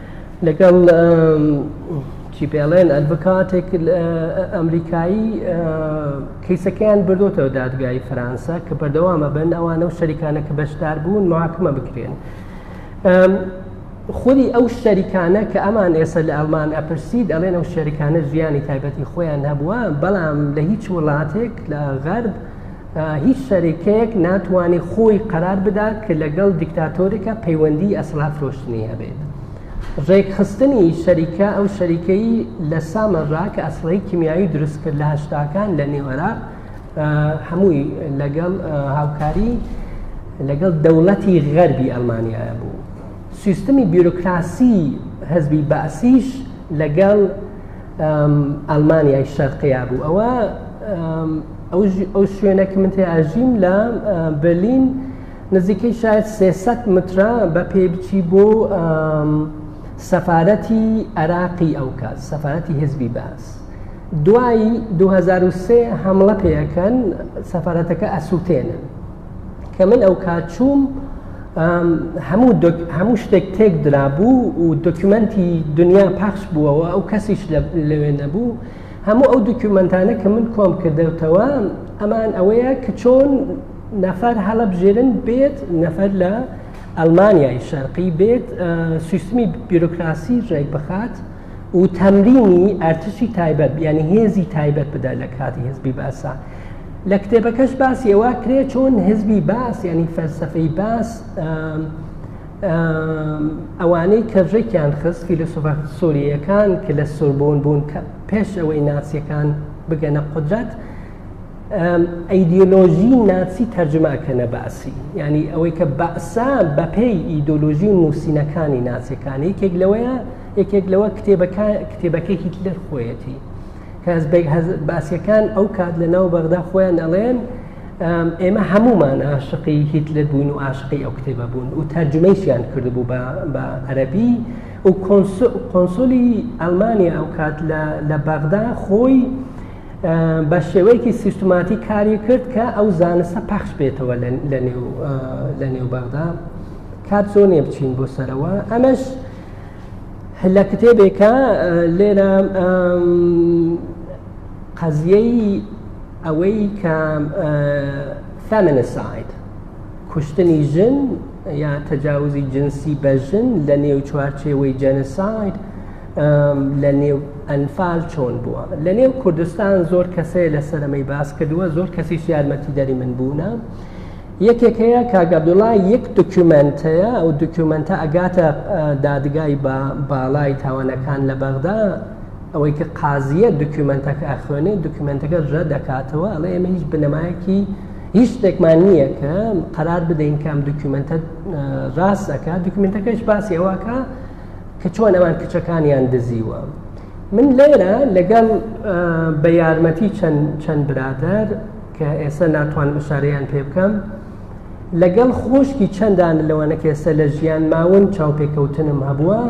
لەگەڵ چی پێڵێن ئەلڤکاتێک ئەمریکایی کەیسەکەیان بردوتەوە دادگای فەرەنسا کە بەردەوامە بن ئەوانە و شەریکانە کە بەشدار بوون محاکمە بکرێن. خودی ئەو شەریکانە کە ئەمان ئێستا لە ئەلمان ئەپرسید ئەڵێن ئەو شەریکانە ژیانی تایبەتی خۆیان هەبووە بەڵام لە هیچ وڵاتێک لە غەرب هیچ شەریکەیەک ناتوانێت خۆی قەرار بدات کە لەگەڵ دیکتاتۆرێکە پەیوەندی ئەسڵها فرۆشتنی هەبێت ڕێکخستنی شەریکە ئەو شەریکەی لە سامەڕا کە ئەسڵی کیمیایی دروست کرد لە هەشتاکان لە نێوەرا هەمووی لەگەڵ هاوکاری لەگەڵ دەوڵەتی غەربی ئەلمانیایە بوو سیستمی بیرۆکراسی هەزبی باسیش لەگەڵ ئەلمانیای شەرقەیە بوو ئەوە ئەو شوێنە کە من تێ ئاژیم لە بەلین نزیکەی شاید سێسەد مترە بە پێ بچی بۆ سەفاەتی عراقی ئەو کات سەفاەتی هزبی باس دوایی 2023 هەمڵە پێەکەن سەفاەتەکە ئەسووتێنن کە من ئەو کات چووم هەموو هەموو شتێک تێک درابوو و دۆکیومنتی دنیا پاخش بووەوە ئەو کەسیش لەوێ نەبوو هەموو ئەو دوکیومەنتانە کە من کۆم کردەوتەوە ئەمان ئەوەیە کە چۆن نەفەر هەڵەبژێرن بێت نەفەر لە ئەلمانیای شەرقی بێت سیستمی بیرۆکراسی ڕێک بخات و تەمرینی ئەرتشی تایبەت بیانی هێزی تایبەت بدا لە کاتی هزبی باسە لە کتێبەکەش باسی ئەوە کرێ چۆن هزبی باس ینی فەلسفەی باس ئەوانەی کە ڕێکیان خست فیلسوفە سووریەکان کە لە سوربوون بوون کە پێش ئەوەی ناسیەکان بگەنە قدرەت ئەیدۆلۆژی ناچی تەرجماکەنە باسی ینی ئەوەی کە بەسا بەپێی ئیدۆلۆژی و نووسینەکانی ناسیەکانی یەکێک لەوەیە یەکێک لەوە کتێبەکە کتێبەکە هیتلەر خۆیەتی کە باسیەکان ئەو کات لە ناو بەغدا خۆیان ئەڵێن ئێمە هەمومان عاشقی هیتلر بوون و عاشقی ئەو کتێبە بوون و تەرجمەیشیان کردبوو بە عەربی و کۆنسولی ئەلمانیا ئەو کات لە بەغدا خۆی بە شێوەیەکی سیستماتی کاری کرد کە ئەو زانستە پەخش بێتەوە لە نێو بەغدا کات زۆر نیە بچین بۆ سەرەوە ئەمەش لە کتێبێکە لێرە قەزیەی ئەوەی کە فەمنساید کوشتنی ژن یا تەجاوزی جنسی بە ژن لە نێو چوارچێوەی جەنساید لە نێو ئەنفال چۆن بووە لە نێو کوردستان زۆر کەسەیە لە سەرەمەی باس کردووە زۆر کەسیش یارمەتی دەری من بوونە یەکێک هەیە کاگەبدوڵا یەک دکومنت هەیە ئەو دکومنتە ئەگاتە دادگای بە باڵای تاوانەکان لە بەغدا ئەوەی کە قازیە دکومنتەکە ئەخوێنێ دکومنتەکە ژە دەکاتەوە ئەڵێ ئێمە هیچ بنەمایەکی هیچ شتێکمان نییە کە قەرار بدەین کام دکومنتە ڕاستەکە دکومنتەکەش باسی ئەوەکە کە چۆن ئەوان کچەکانیان دزیوە من لێرە لەگەڵ بە یارمەتی چەند چەند برادر کە ئێستا ناتوان مشارەیان پێ بکەم لەگەڵ خۆشکی چەندان لەوانە کە ئێستا لە ژیان ماون چاوپێکەوتنم هەبووە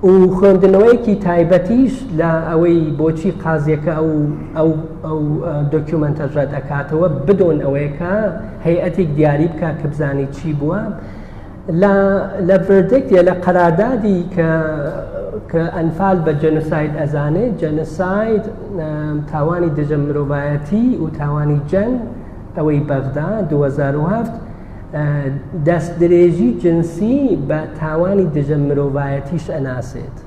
و خوێندنەوەیەکی تایبەتیش لە ئەوەی بۆچی قازیەکە ئەو ئەو ئەو دۆکیومنتە ڕەت ئەکاتەوە بدۆن ئەوەیەکە هەیئەتێک دیاری بکە کە بزانانی چی بووە لە بردێکە لە قەرادادی کە کە ئەنفال بە جەنساید ئەزانێت جەنساید تاوانی دژە مرۆڤایەتی و تاوانی جەنگ ئەوەی بەغدا 2007 دەستدرێژی جنسی بە تاوانی دژە مرۆڤایەتیش ئەناسێت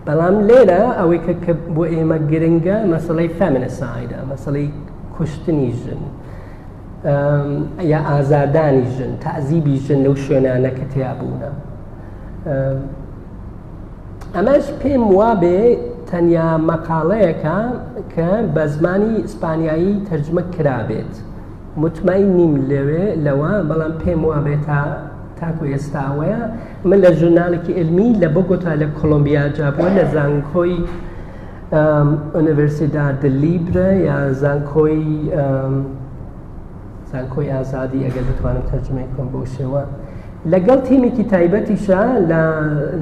بەڵام لێرە ئەوەی کە بۆ ئێمە گرنگە مەسلەی فەمنسایدە مەسلەی کوشتنی ژن یا ئازادانی ژن تازیبی ژن لەو شوێنانە کە تیا بوونە ئەمەش پێم وابێ تەنیا مەقاڵەیەەکە کە بە زمانی ئیسپانیایی تەرجمە کرابێت. متمەئین نیم لەوێ لەوە بەڵام پێم وابێ تا تاکو ئێستا ئەوەیە من لە ژورنالێکی علمی لە بۆگۆتا لە کۆلۆمبیا جابووە لە زانکۆی ئۆنیڤرسیداد لیبرە یا زانکۆی زانکۆی ئازادی ئەگەر بتوانم تەرجمەی کۆم بۆ شێوە لەگەڵ تیمێکی تایبەتیشە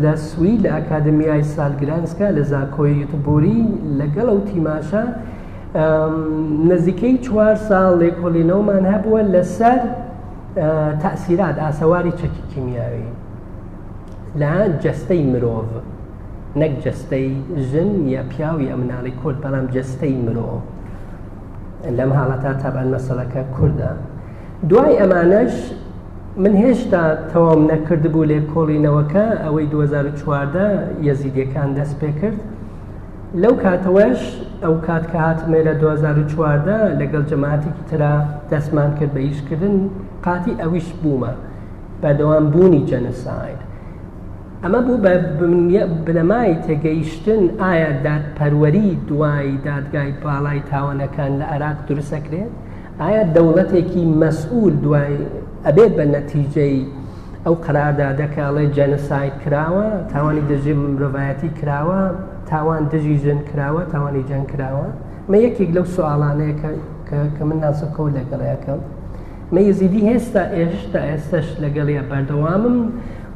لە سوی لە ئەکادمیای سالگرانسکە لە زانکۆی یوتبوری لەگەڵ ئەو تیماشە نزیکەی چوار ساڵ لێکۆڵینەوەمان هەبووە لەسەر تەسیرات ئاسەواری چەکی کیمیاوی لە جەستەی مرۆڤ نەک جەستەی ژن یا پیاوی ئە مناڵی کورد بەڵام جەستەی مرۆڤ لەم حاڵەتا تابان مەسەڵەکە کوردە دوای ئەمانەش من هێشتا تەواو نەکردبوو لێ کۆڵینەوەکە ئەوەی 2014 یەزیدیەکان دەست پێ کرد لەو کاتەوەش ئەو کات کە هاتمێ لە 2014 لەگەڵ جەماعەتێکی ترا دەستمان کرد بە ئیشکردن قاتی ئەویش بوومە بەدەوام بوونی جەنساید ئەمە بوو بە بنەمای تێگەیشتن ئایا دادپەروەری دوای دادگای باڵای تاوانەکان لە عراق دروستەکرێت ئایا دەوڵەتێکی مەسئول دوای ئەبێت بە نەتیجەی ئەو قەراردادە کە ئەڵێ جەنساید کراوە تاوانی دژی مرۆڤایەتی کراوە تاوان دژی ژن کراوە تاوانی جەنگ کراوە مە یەکێک لەو سوالانەیە کە من ناسەکەەوە لەگەڵیەکەم مە یزیدی هێستا ئێشتا ئێستش لەگەڵیە بەردەوامم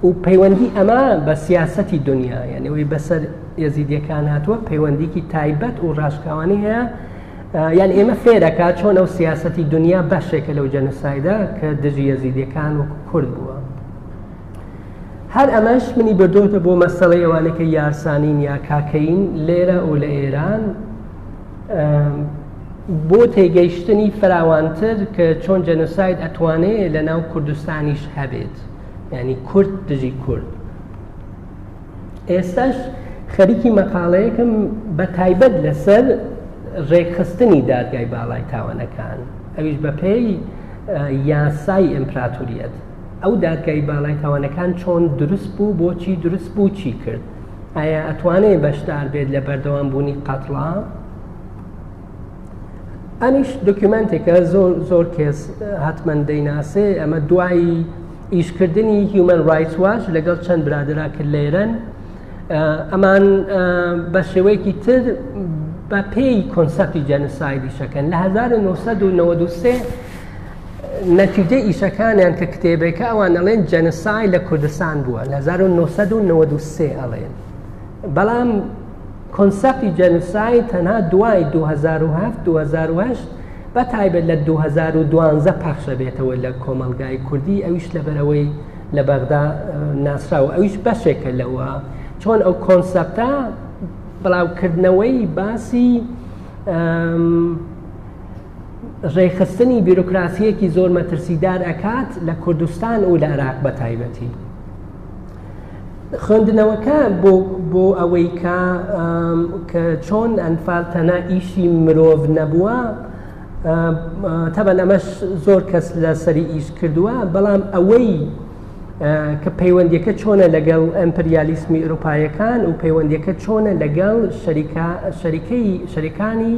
و پەیوەندی ئەمە بە سیاسەتی دنیا یعنی ئەوی بەسەر ێزیدیەکان هاتووە پەیوەندیکی تایبەت و ڕاشکاوانی هەیە یان ئێمە فێرەکە چۆن ئەو سیاستی دنیا بەشێکە لەو جەنوسایدە کە دژی یەزیدەکان و کورد بووە هەر ئەمەش منی بردۆتە بۆ مەسەڵی ئەوانەکە یارسانین یا کاکەین لێرە و لە ئێران بۆ تێگەیشتنی فراوانتر کە چۆن جەنوساید ئەتوانێت لە ناو کوردستانیش هەبێت ینی کورد دژی کورد ئێستاش خەریکی مەقاڵەیەکم بە تایبەت لەسەر ڕێکخستنی دادگای باڵای تاوانەکان ئەویش بەپێی یاسای ئەمپراتوریەت ئەو دادگای باڵای تاوانەکان چۆن دروست بوو بۆچی دروست بوو چی کرد ئایا ئەتوانێت بەشدار بێت لە بەردەوام بوونی قەتڵا ئەمیش دکیومنتێکە زۆر زۆر کێس هاتمەند دەیناسێ ئەمە دوایی ئیشکردنی هیومن ڕایت واش لەگەڵ چەند برادرا کرد لە ئێران ئەمان بە شێوەیەکی تر بە پێی کۆنسەپی جەنسایدی شەکەن لە 1993 نەتیجە ئیشەکانیان کە کتێبێکە ئەوان ئەڵێن جەنسای لە کوردستان بووە لە 1993 ئەڵێن بەڵام کۆنسێپتی جێنوساید تەنها دوای دوو هەزار و هەفت دوو هەزار و هەشت بە تایبەت لە دوو هەزار و دوازدە پەخش دەبێتەوە لە کۆمەڵگای کوردی ئەویش لەبەرئەوەی لە بەغدا ناسرا و ئەویش بەشێکە لەوە چۆن ئەو کۆنسەپتە بڵاوکردنەوەی باسی ڕێخستنی بیرۆکراسیەکی زۆر مەترسیدار ئەکات لە کوردستان و لە عراق بە تایبەتی خوێندنەوەکە بۆ بۆ ئەوەی کە کە چۆن ئەنفال تەنە ئیشی مرۆڤ نەبووە تەبەن ئەمەش زۆر کەس لە سەری ئیش کردووە بەڵام ئەوەی کە پەیوەندیەکە چۆنە لەگەڵ ئەمپریالیسمی ئۆروپایەکان و پەیوەندیەکە چۆنە لەگەڵ شەریکە شەریکەی شەریکانی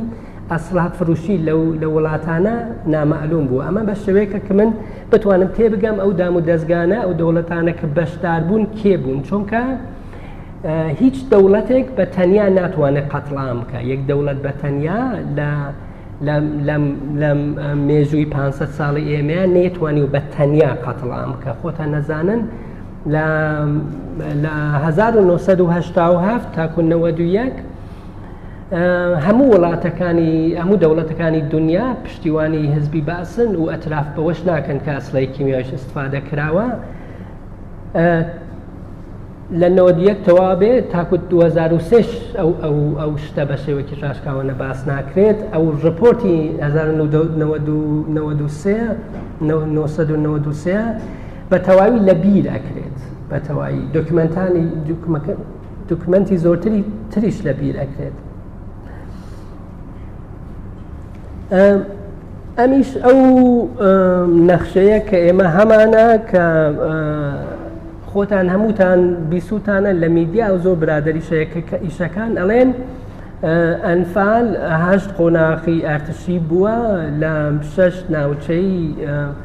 ئەسڵحە فروشی لەو لە وڵاتانە نامەعلوم بوو ئەمە بە شێوەیەکە کە من بتوانم تێبگەم ئەو دام و دەستگانە ئەو دەوڵەتانە کە بەشدار بوون کێ بوون چونکە هیچ دەوڵەتێک بە تەنیا ناتوانێت قەتڵام بکە یەک دەوڵەت بە تەنیا لە لە مێژووی 500 ساڵی ئێمەیان نەیتوانی و بە تەنیا قەتڵام بکە خۆتان نەزانن لە 1970 تاکو 91 هەموو وڵاتەکانی هەموو دەوڵەتەکانی دنیا پشتیوانی هزبی باسن و ئەتراف بەوەش ناکەن کە ئەسلای کیمیاش استفادە کراوە لە نۆدیەک تەوا بێ تاکو 2006 ئەو ئەو ئەو شتە بە شێوەکی ڕاشکاوانە باس ناکرێت ئەو ڕپۆرتی 1993 بە تەواوی لە بیر ئەکرێت بە تەواوی دکمنتانی دوکمەنتی زۆرتری تریش لە بیر ئەکرێت ئەمیش ئەو نەخشەیە کە ئێمە هەمانە کە خۆتان هەمووتان بیسووتانە لە میدیا و زۆر برادری شەیەکە ئیشەکان ئەڵێن ئەنفال هەشت قۆناخی ئارتشی بووە لە شەش ناوچەی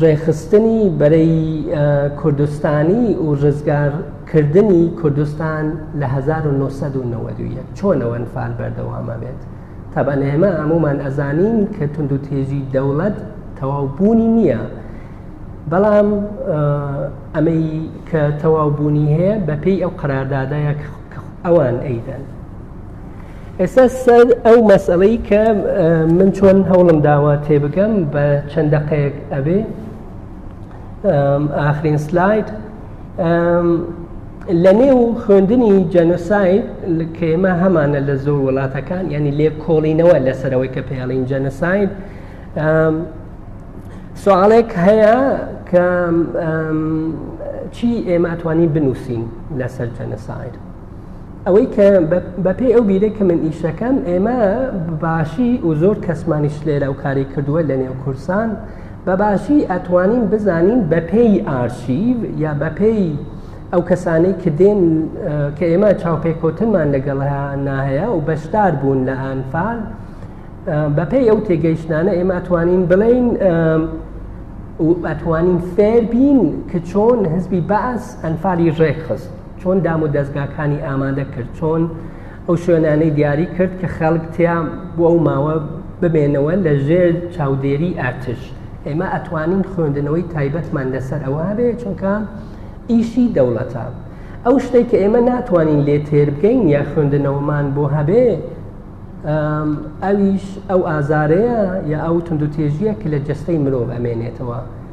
ڕێکخستنی بەرەی کوردستانی و ڕزگارکردنی کوردستان لە 1990 چۆنەوە ئەنفال بەردەوامە بێت تەبەن ئێمە هەمومان ئەزانین کە تونند و تێژی دەوڵەت تەواو بوونی نییە بەڵام ئەمەی کە تەواو بوونی هەیە بەپێی ئەو قەراردادایە ئەوان ئەیدەن ئێستا سەر ئەو مەسەڵەی کە من چۆن هەوڵم داوە تێبگەم بە چەند دەقەیەک ئەبێ ئاخرین سلاید لە نێو خوێندنی جەنۆساید کە ئێمە هەمانە لە زۆر وڵاتەکان ینی لێ کۆڵینەوە لەسەرەوەی کە پێڵین جەنەساید سوالێک هەیە کە چی ئێمە ئەتوانین بنووسین لەسەر جەنەساید ئەوەی کە بەپێی ئەو بیرە کە من ئیشەکەم ئێمە باشی و زۆر کەسمانیش لێرە و کاری کردووە لە نێو کورسان بەباشی ئەتوانین بزانین بەپێی ئارشیڤ یا بەپێی ئەو کەسانەی کە دێن کە ئێمە چاوپێکەوتنمان لەگەڵ ناهەیە و بەشدار بوون لە ئەنفال بەپێی ئەو تێگەیشتانە ئێمە ئەتوانین بڵین ئەتوانین فێربین کە چۆن هزبی باس ئەنفالی ڕێکخست چۆن دام و دەزگاکانی ئامادە کرد چۆن ئەو شوێنانەی دیاری کرد کە خەڵک تیا بۆ ئەو ماوە بمێنەوە لە ژێر چاودێری ئارتش ئێمە ئەتوانین خوێندنەوەی تایبەتمان لەسەر ئەوە هەبێ چونکە ئیشی دەوڵەتە ئەو شتێک کە ئێمە ناتوانین لێ تێر بگەین یا خوێندنەوەمان بۆ هەبێ ئەویش ئەو ئازارەیە یا ئەو تونندوتێژیە کە لە جستەی مرۆڤ ئەمێنێتەوە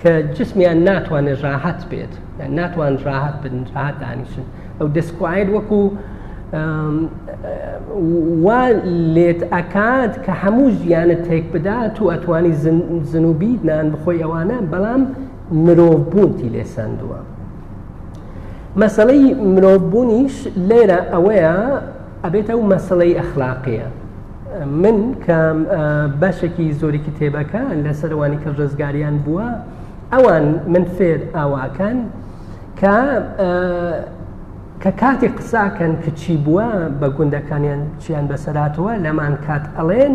کە جسمیان ناتوانێت ڕاحەت بێت یان ناتوان ڕاحەت بن ڕاحەت دانیشن ئەو دەستکوایت وەکو وا لێت ئەکات کە هەموو ژیانە تێک بدات و ئەتوانی زنوبی نان بخۆی ئەوانە بەڵام مرۆڤ بوونتی لێ سندووە مەسلەی مرۆڤ بوونیش لێرە ئەوەیە ئەبێت ئەو مەسلەی ئەخلاقیە من کە بەشێکی زۆری کتێبەکە لەسەر ئەوانی کە ڕزگاریان بووە ئەوان من فێر ئاواکان کە کە کاتی قساکەن کە چی بووە بە گوندەکانیان چیان بەسەراتەوە لەمان کات ئەڵێن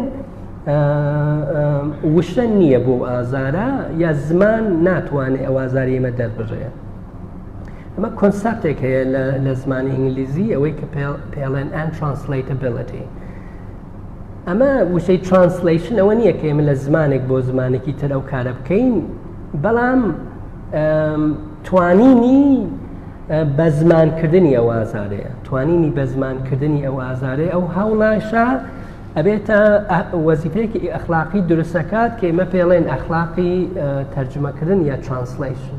وشە نییە بۆ ئازارە یا زمان ناتوانێت ئەوازاری ئمە دەربڕێت ئەمە کۆنسپتێک هەیە لە زمانی ئینگلیزی ئەوەی کە پێڵێن ئەن ترانسلیتبلتی ئەمە وشەی ترانسلیشن ئەوە نییە کە ئێمە لە زمانێک بۆ زمانێکی تر ئەو کارە بکەین بەڵام توانینی بە زمانکردنی ئەو ئازارەیە توانینی بە زمانکردنی ئەو ئازارەیە ئەو هەوڵاشە ئەبێتە وەزیفەیەکی ئەخلاقی درستەکات کە ئمە پێڵێن ئەخلاقی تەرجمەکردن یا ترانسلیشن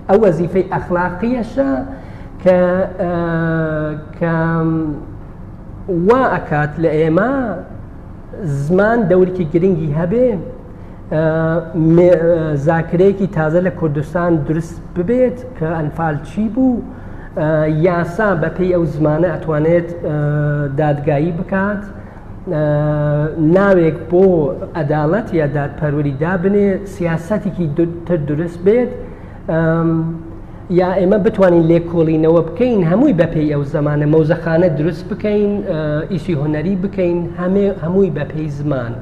ئەو وەزیفەی ئەخلاقیەشە کە کە وا ئەکات لە ئێمە زمان دەورکی گرنگی هەبێ زاکرەیەکی تازە لە کوردستان دروست ببێت کە ئەنفال چی بوو یاسا بەپی ئەو زمانە ئەتوانێت دادگایی بکات ناوێک بۆ ئەداڵەت یا دادپەروەری دابنێ سیاسەتێکی تر دروست بێت یا ئێمە بتوانین لێکۆڵینەوە بکەین هەمووی بەپی ئەو زمانە مەوزەخانە دروست بکەین ئیسی هۆنەری بکەین هەمووی بەپی زمان.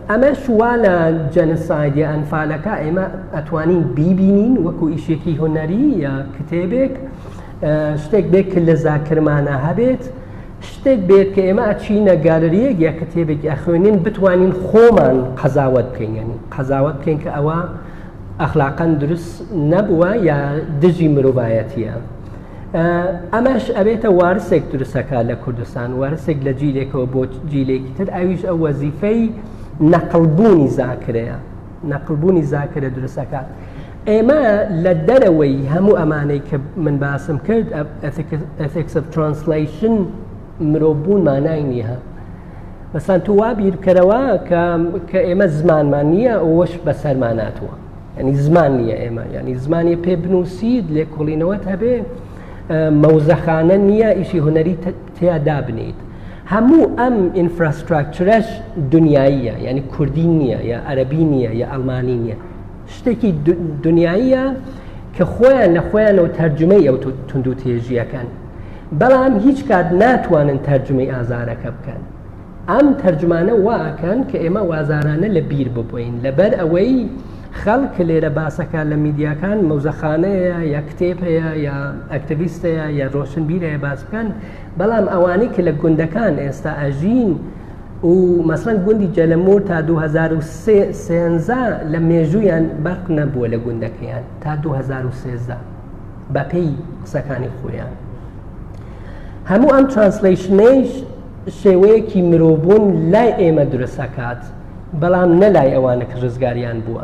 ئەمە شووا لە جەنسایدی ئەنفالەکە ئێمە ئەتوانین بیبینین وەکو ئیشێکی هۆنەری یا کتێبێک شتێک بێک کە لە زاکرمانە هەبێت شتێک بێت کە ئێمە ئەچینە گالریەک یا کتێبێکی ئەخوێنین بتوانین خۆمان قەزاوت بکەین یعنی قەزاوت بکەین کە ئەوە ئەخلاقەن دروست نەبووە یا دژی مرۆڤایەتیە ئەمەش ئەبێتە وارسێک دروستەکە لە کوردستان وارسێک لە جیلێکەوە بۆ جیلێکی تر ئەویش ئەو وەزیفەی نەقلبوونی زاکرەیە نەقلبوونی زاکرە دروست ئەکات ئێمە لە دەرەوەی هەموو ئەمانەی کە من باسم کرد ئەفکس ترانسلیشن مرۆڤبوون مانای نییە مەسان تو وا بیرکەرەوە کە ئێمە زمانمان نییە ئەوەش بەسەرماناتوە ینی زمان نییە ئێمە ینی زمانی پێ بنووسید لێکۆڵینەوەت هەبێ مەوزەخانە نییە ئیشی هوەری تیا دابنیت هەموو ئەم ئینفراستراکچرەش دنیاییە یعنی کوردی نییە یا ئەرەبی نییە یا ئەلمانی نییە شتێکی دنیاییە کە خۆیان لە خۆیانەوە تەرجمەی ئەو تونندو تێژیەکەن بەڵام هیچ کات ناتوانن تەرجمەی ئازارەکە بکەن ئەم تەرجمانە واکەن کە ئێمە وازارانە لە بیر ببین لەبەر ئەوەی خەڵک لێرە باسەکان لە میدیاکان مەوزەخانەیە یا کتێب هەیە یا ئەکتەویستەیە یا ڕۆشنبیرەیە باس بکەن بەڵام ئەوانەی کە لە گوندەکان ئێستا ئەژین و مەسڵەن گوندی جەلەمور تا 2013 لە مێژوویان بەق نەبووە لە گوندەکەیان تا 2013 بەپێی قسەکانی خۆیان هەموو ئەم ترانسلیشنەیش شێوەیەکی مرۆڤبوون لای ئێمە درستەکات بەڵام نەلای ئەوانە کە ڕزگاریان بووە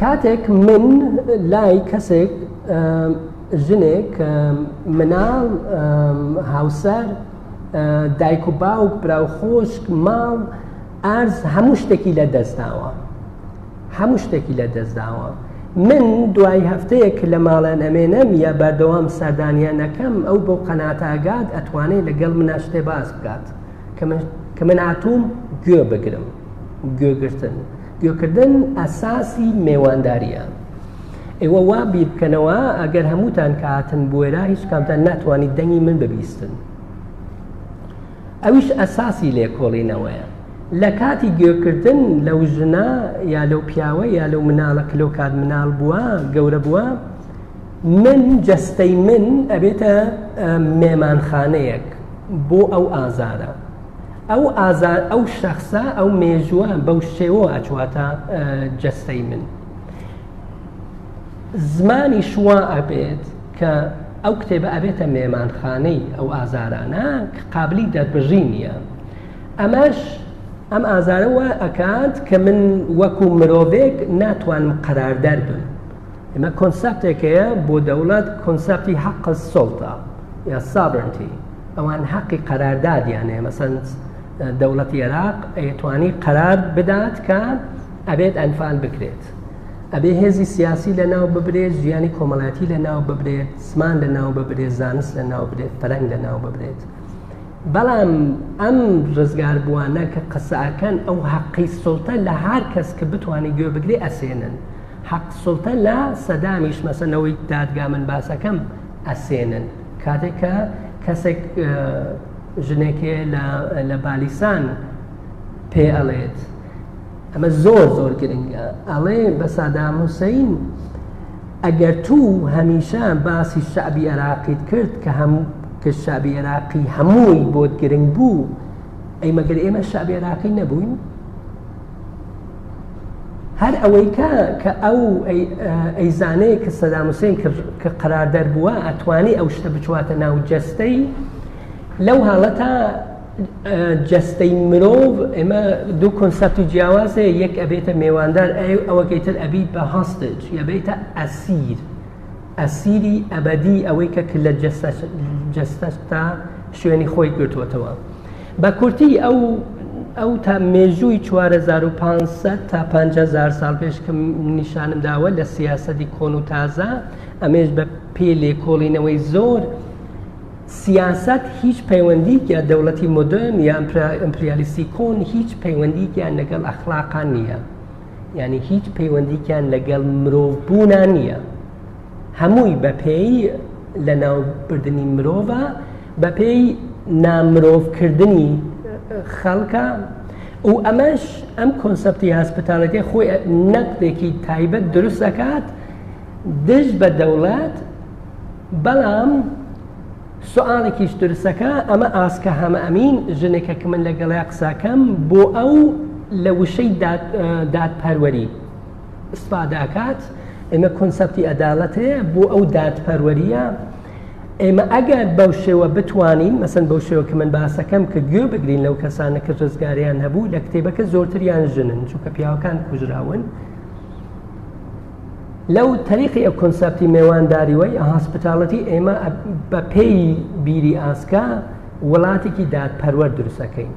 کاتێک من لای کەسێک ژنێک مناڵ هاوسەر دایک و باوک برا و خۆشک ماڵ ئارز هەموو شتێکی لە دەستداوە هەموو شتێکی لە دەستداوە من دوای هەفتەیەک لە ماڵیان ئەمێنەم یا بەردەوام سەردانیان نەکەم ئەو بۆ قەناتاگات ئەتوانێت لەگەڵ منە شتێ باس بکات کە من هاتووم گوێ بگرم گوێگرتن. گوێکردن ئەساسی مێوانداریە ئێوە وا بیربکەنەوە ئەگەر هەمووتان کە هاتن بۆێرا هیچ کامتان ناتوانیت دەنگی من ببیستن ئەویش ئەساسی لێکۆڵینەوەیە لە کاتی گوێکردن لەو ژنە یا لەو پیاوە یا لەو مناڵە کلۆ کات مناڵ بووە گەورە بووە من جەستەی من ئەبێتە مێمانخانەیەک بۆ ئەو ئازارە ئەو ئازا ئەو شەخصە ئەو مێژووە بەو شێوە ئەچواتە جەستەی من زمانی شووا ئەبێت کە ئەو کتێبە ئەبێتە مێمانخانەی ئەو ئازارانە کە قابلی دەربژی نییە ئەمەش ئەم ئازارەوە ئەکات کە من وەکو مرۆڤێک ناتوانم قەراردەر بم ئمە کۆنسپتێکەیە بۆ دەوڵەت کۆنسپتی حەق سڵتە یا سابرنتی ئەوان حەقی قەراردادیانێ مەسەن دەوڵەتی عێراق ئەیتوانی قەرار بدات کە ئەبێت ئەنفال بکرێت ئەبێ هێزی سیاسی لە ناو ببرێت ژیانی کۆمەڵاتی لە ناو ببرێت سمان لە ناو ببرێت زانست لە ناو برێت پەرەنگ لە ناو ببرێت بەڵام ئەم ڕزگار بووانە کە قسەکەن ئەو حەقی سڵتە لە هەر کەس کە بتوانانی گوێ بگرێ ئەسێنن حەق سوڵتە لە سەدامیش مەسە لەوەی دادگا من باسەکەم ئەسێنن کاتێک کە کەسێک ژنێکێ لە بالیسان پێ ئەڵێت ئەمە زۆر زۆر گرنگە ئەڵێ بە سادام حوسین ئەگەر تو هەمیشە باسی شعبی عراقیت کرد کە هەم کە شعبی عراقی هەمووی بۆت گرنگ بوو ئەی مەگەر ئێمە شعبی عراقی نەبووین هەر ئەوەی کە کە ئەو ئەیزانەیە کە سەدام حوسێن کە قەرار دەربووە ئەتوانی ئەو شتە بچواتە ناو جەستەی لەو حاڵەتە جەستەی مرۆڤ ئێمە دوو کۆنسپت و جیاوازێ یەک ئەبێتە مێواندار ئەوەکەی تر ئەبیت بە هەستج یەبێتە ئەسیر ئەسیری ئەبەدی ئەوەی کە کللە جەستەتە شوێنی خۆی گرتووەتەوە بە کورتی ئەو ئەو تا مێژووی 4500 تا 500 سال پێش کە نیشانم داوە لە سیاستی کۆن و تازە ئەمێش بە پێ لێکۆڵینەوەی زۆر سیاست هیچ پەیوەندیکە دەوڵەتی مدرن یا ئەمپریالیسی کۆن هیچ پەیوەندیکیان لەگەڵ ئەخلاقان نییە. یعنی هیچ پەیوەندیکیان لەگەڵ مرۆڤ بوونا نییە هەمووی بەپێی لە ناوبردننی مرۆڤە بەپێی نامرۆڤکردنی خەڵکە و ئەمەش ئەم کۆنسپتی هەسپتالەکەی خۆی نەقدێکی تایبەت دروست دەکات دژ بە دەوڵات بەڵام سوالێکیش درسەکە ئەمە ئاسکە هەمە ئەمین ژنێکە کە من لەگەڵیا قساکەم بۆ ئەو لە وشەی دادپەروەری سپاداکات ئێمە کۆنسپتی ئەداڵەتێ بۆ ئەو دادپەروەریە ئێمە ئەگەر بەو شێوە بتوانین مەسن بەو شێوە کە من باسەکەم کە گوێ بگرین لەو کەسانە کە ڕزگاریان هەبوو لە کتێبەکە زۆرتریان ژنن چونکە پیاوەکان کوژراون لەو تەریقی ئە کۆنسەپتی مێوانداریوەی ئە هاسپتالەتی ئێمە بە پێی بیری ئاسکا وڵاتێکی دادپەروەر دروستەکەین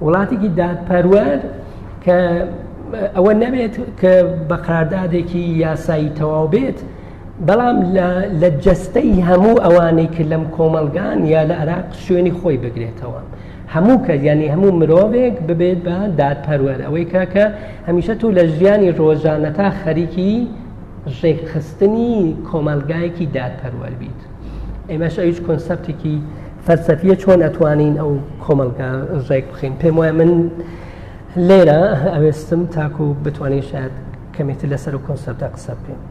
وڵاتێکی دادپەروەر کە ئەوە نەبێت کە بە قراردادێکی یاسایی تەواو بێت بەڵام لە جەستەی هەموو ئەوانەی کرد لەم کۆمەلگان یا لە عراق شوێنی خۆی بگرێتەوە. هەموو کەس یانی هەموو مرۆڤێک ببێت بە دادپەروەر ئەوەی کە کە هەمیشە تۆ لە ژیانی ڕۆژانەتا خەریکی ڕێکخستنی کۆمەلگایەکی دادپەروەر بیت ئێمەش ئەویش کۆنسپتێکی فەرسەفیە چۆن ئەتوانین ئەو کۆمەلگا ڕێک بخین پێم وایە من لێرە ئەوێستم تاکو بتوانین شاید کەمێتی لەسەر و کۆنسپتە قسە بکەین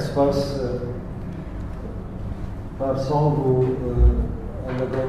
سپاس پارساڵ بوو لەگەڵ